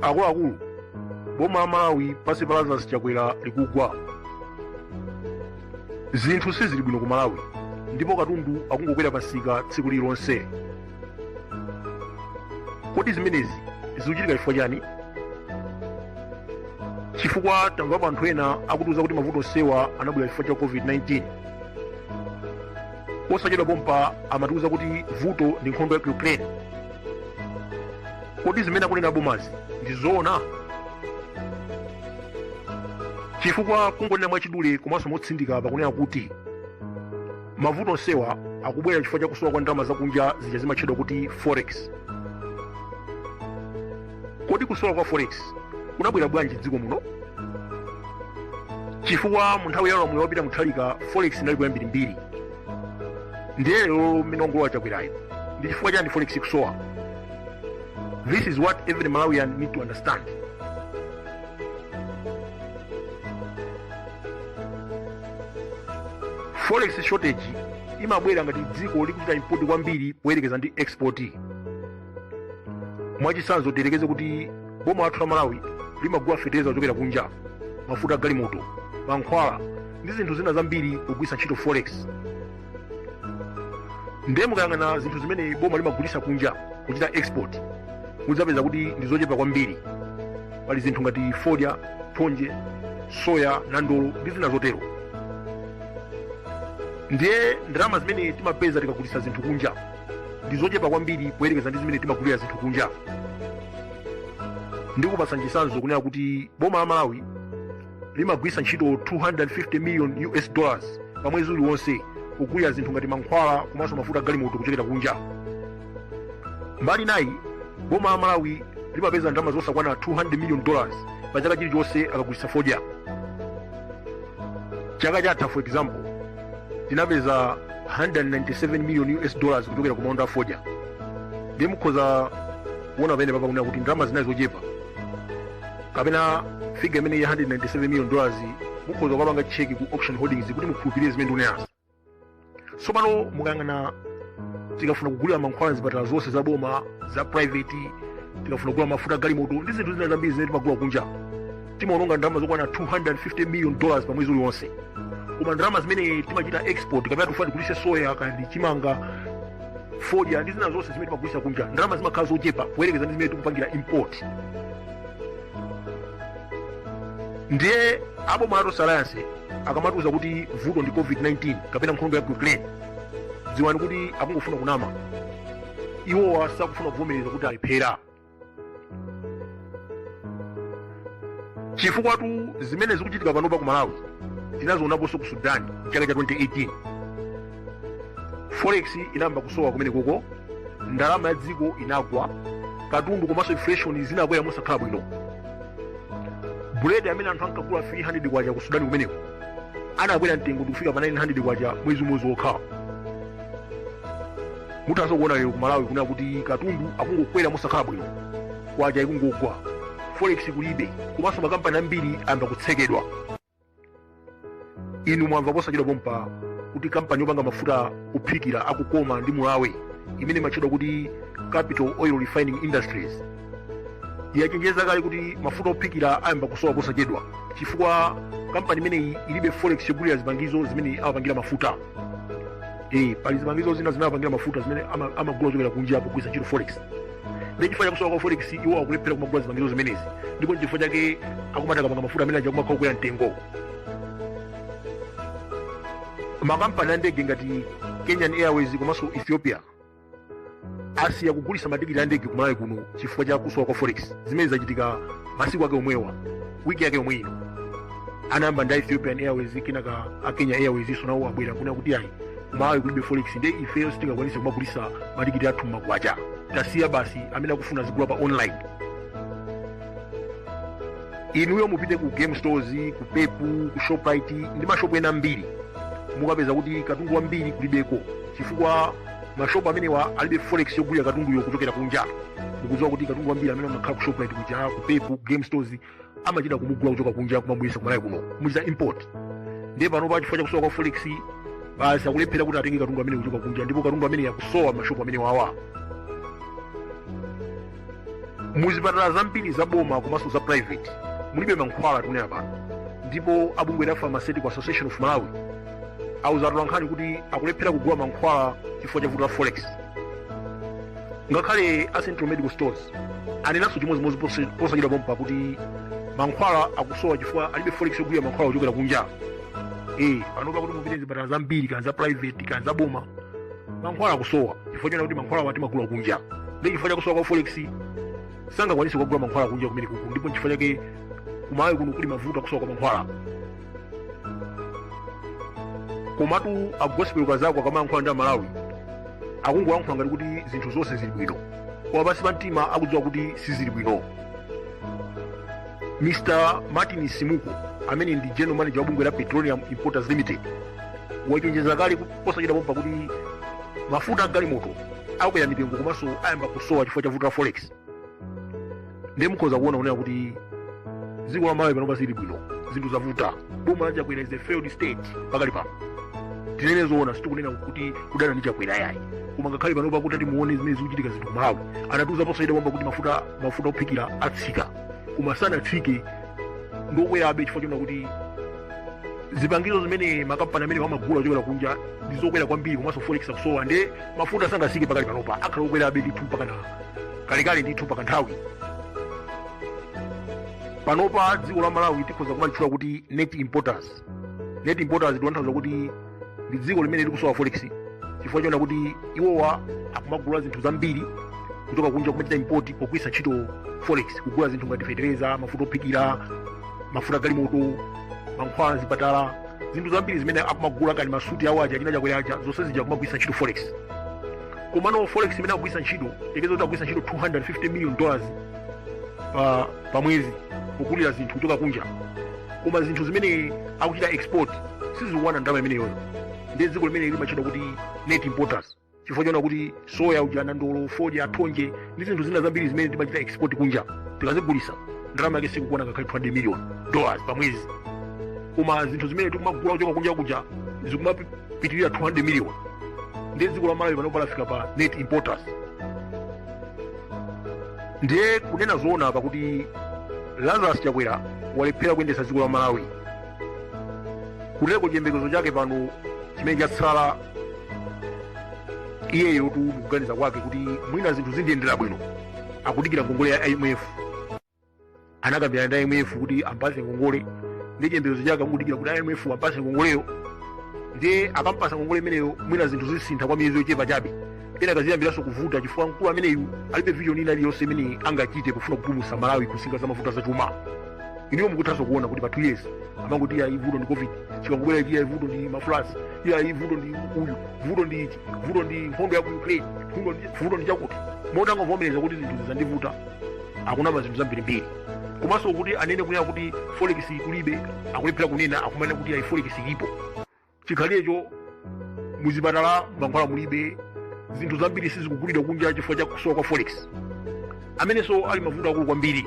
akuluakulu boma la malawi pansi pa lazarus chakwera likugwa zinthu sizili bwino ku malawi ndipo katundu akungokwera pamsika tsiku lililonse kodi zimenezi zikuchitika chifukwa chani chifukwa tamvapo anthu ena akutiuza kuti mavuto onsewa anabwera chifukwa cha covid-19 osachedwa pompa amatiuza kuti vuto ndi nkhondo ya ku ukraine kodi zimene akunena bomazi ndi zoona chifukwa kungonena mwachidule komanso motsindika pakunena kuti mavuto onsewa akubwera chifukwa cha kusowa kwa ndalama zakunja zija zimatchedwa kuti forex kodi kusowa kwa forex kunabwera bwanji mdziko muno chifukwa mu nthawi ya ulamuliro wa peter muthalika forex inaliko yambirimbiri ndiye lero mmene wangolowa chakwerayo ndi chifukwa chani forex ikusowa this is what every malawian need to understand forex shortage imabwera ngati dziko likuchita import kwambiri poyerekeza ndi export mwachitsanzo tiyerekeze kuti boma lathu la malawi limagula fetereza kuchokera kunja mafuta a galimoto mankhwala ndi zinthu zina zambiri kugwiritsa ntchito forex ndiye mukayang'ana zinthu zimene boma limagulitsa kunja kuchita export mudzapeza kuti ndi zochepa kwambiri pali zinthu ngati fodya thonje soya nandolo ndi zina zotero ndiye ndalama zimene timapeza tikagulitsa zinthu kunja ndi zochepa kwambiri poyerekeza ndi zimene timagulira zinthu kunja ndikupatsa chisanzo kunena kuti boma la malawi limagwiritsa ntchito 250 million us dollars pa mwezi uliwonse kugulira zinthu ngati mankhwala komanso mafuta a galimoto kuchokera kunja mbali inayi boma la malawi limapeza ndalama zosakwana 200 million dollars pa chaka chilichonse akagulitsa fodya chaka chatha for example tinapeza 197 million us dollars kuchokera ku maunda a fodya ndiye mukhoza kuona pamenepa pakunena kuti ndalama zina ndi zochepa kapena figa imeneyi ya 197 million dollars mukhoza kukapanga cheki ku auction holdings kuti mukhulupirire zimene ndikunenazo tsopano mukayang'ana tikafuna kugulira mankhwala mzipatala zonse za boma za private tikafuna kugula mafuta a galimoto ndi zinthu zina zambiri zimene timagula kunja timaononga ndalama zokwana 250 million dollars pa mwezi uliwonse koma ndalama zimene timachita export kapena tikufuna tigulise soya kapena chimanga fodya ndi zina zonse zimene timagulitsa kunja ndalama zimakhala zochepa kuyerekeza ndi zimene tikupangira import ndiye aboma a Tonse Alliance akamatiuza kuti vuto ndi covid-19 kapena nkhondo ya ku ukraine dziwani kuti akungofuna kunama iwowa sakufuna kuvomereza kuti alephera chifukwatu zimene zikuchitika panopa ku malawi tinazionaponso ku sudan chaka cha 2018 forex inayamba kusowa kumenekoko ndalama ya dziko inagwa katundu komanso inflation zinakwera mosakhala bwino buledi amene anthu ankagula 300 kwacha ku sudani kumeneko anakwera mtengo ndikufika pa 900 kwacha mwezi umodzi wokha muthanso kuona lero ku malawi kunena kuti katundu akungokwera mosakhala bwino kwacha ikungogwa forex kulibe komanso makampani ambiri ayamba kutsekedwa inu mwamva posachedwapompa kuti kampani yopanga mafuta ophikira a Kukoma ndi Mulawe imene imatchedwa kuti capital oil refining industries yachenjeza kale kuti mafuta ophikira ayamba kusowa posachedwa chifukwa kampani imeneyi ilibe forex yogulira zipangizo zimene amapangira mafuta eh, pali zipangizo zina zimene amapangira mafuta zimene ama- amagula zochokera kunja kugwiritsa ntchito forex nde chifukwa chakusowa kwa forex iwo akulephera kumagula zipangizo zimenezi ndipo chifukwa chake akumati akapanga mafuta amenewaja kumakhala kukwera mtengo makampani a ndege ngati kenyan airways komanso ethiopia asiya kugulitsa matikiti a ndege kumalawi kuno chifukwa cha kusowa kwa forex zimene zachitika masiku ake omwewa wiki yake omwe ino anayamba ndi ethiopian airways kenaka a kenya airways iwonso nawo abwera kunena kuti ayi kumalawi kulibe forex nde ifeyo sitingakwanise kumagulitsa matikiti athu mmakwacha tasiya basi amene akufuna azigula pa online inuyo mupite ku game stores ku pep ku shoprite ndi mashopu ena ambiri mukapeza kuti katundu wambiri kulibeko chifukwa mashopu amenewa alibe forex yogulira katunduyo kuchokera kunja mukudziwa kuti katundu wambiri amene amakhala ku shoprite kuja ku pep ku game stores amachita kumugula kuchoka kunja kumabweretsa kumalawi kuno kumuchita import ndiye panopa chifukwa chakusowa kwa forex basi akulephera kuti atenge katundu ameneyu kuchoka kunja ndipo katundu ameneyu akusowa mmashopu amenewawa muzipatala zambiri za boma komanso za private mulibe mankhwala tikunena pano ndipo abungwe la pharmaceutical association of malawi auza atolankhani kuti akulephera kugula mankhwala chifukwa cha vuto la forex ngakhale a central medical stores anenanso chimodzimodzi pose- posachedwapompa kuti mankhwala akusowa chifukwa alibe forex yogulira mankhwala kuchokera kunja eh panopa kuti mupite mzipatala zambiri kaya za private kaya za boma mankhwala akusowa chifukwa chonena kuti mankhwalawa timagula kunja ndi chifukwa chakusowa kwa forex sangakwanise kugula mankhwala kunja kumenekuku ndipo chifukwa chake ku malawi kuno kuli mavuto akusowa kwa mankhwala komatu a gospel kazako akamayankhula ndi amalawi akungoyankhula ngati kuti zinthu zonse zili bwino koma pansi pa mtima akudziwa kuti sizili bwino mr martin msimuko amene ndi general manager wa bungwe la petroleum importers limited wachenjeza kale ku- posachedwa pompa kuti mafuta a galimoto akwera mitengo komanso ayamba kusowa chifukwa cha vuto la forex ndiye mukhoza kuona kunena kuti dziko la malawi panopa sili bwino zinthu zavuta boma la chakwera is a failed state pakali pano tinene zoona sitikunena kuti kudana ndi chakwera yayi koma ngakhale panopa kuti muone zimene zikuchitika zinthu malawi anatiuza posachedwa pompa kuti mafuta ophikira atsika koma sanatsike ndi okwerabe chifukwa chonena kuti zipangizo zimene makampani amenewa amagula kuchokera kunja ndi zokwera kwambiri komanso forex akusowa ndiye mafuta sangatsike pakali panopa akhala okwerabe ndithu mpaka kalekale ndithu mpaka nthawi panopa dziko la malawi tikhoza kumalitchula kuti net importers net importers ndi kutanthauza kuti ndi dziko limene likusowa forex chifukwa chonena kuti iwowa akumagula zinthu zambiri kuchoka kunja kumachita import pogwiritsa ntchito forex kugula zinthu ngati fetereza mafuta ophikira mafuta a galimoto mankhwala zipatala zinthu zambiri zimene akumagula ngati masuti awo aja achina chakwera aja zonse zija akumagwiritsa ntchito forex komano forex imene akugwiritsa ntchito tiyerekeze kuti akugwiritsa ntchito 250 million dollars pa mwezi kugulira zinthu kuchoka kunja koma zinthu zimene akuchita export sizikukwana ndalama imeneyoyo ndi dziko limene limatchedwa kuti net importers chifukwa chonena kuti soya uja nandolo fodya thonje ndi zinthu zina zambiri zimene timachita export kunja tikazigulisa ndalama yake sikukwana ngakhale 200 million dollars pa mwezi koma zinthu zimene tikumagula kuchoka kunja kuja zikumapitirira 200 million ndiye dziko la malawi panopa lafika pa net importers ndiye kunena zoona apa kuti lazarus chakwera walephera kuyendetsa dziko la malawi kutereko chiyembekezo chake pano chimene chatsala iyeyotu mukuganiza kwake kuti mwina zinthu zindiyendera bwino akudikira ngongole ya imf anakambirana ndi IMF kuti ampase ngongole ndi chiyembekezo chake akudikira kuti IMF ampase ngongoleyo ndiye akampasa ngongole imeneyo mwina zinthu zisintha kwa miyezi yochepa chabe kenaka ziyambiranso kuvuta chifukwa mkulu ameneyu alibe vision ina iliyonse imene angachite pofuna kupulumutsa malawi ku nsinga za mavuto azachuma inuyo mukuthanso kuona kuti pa two years amangoti iyayi vuto ndi covid chikangobwera ichi iyayi vuto ndi ma floods iyayi vuto ndi uyu vuto ndi ichi vuto ndi nkhondo ya ku ukraine vuto ndi- vuto ndi chakuti moti angovomereza kuti zinthuzi zandivuta akunama zinthu zambirimbiri komanso kuti anene kunena kuti forex kulibe akulephera kunena akumanena kuti ayi forex ilipo chikhalirecho muzipatala mankhwala mulibe zinthu zambiri sizikugulidwa kunja chifukwa cha kusowa kwa forex amenenso ali mavuto akulu kwambiri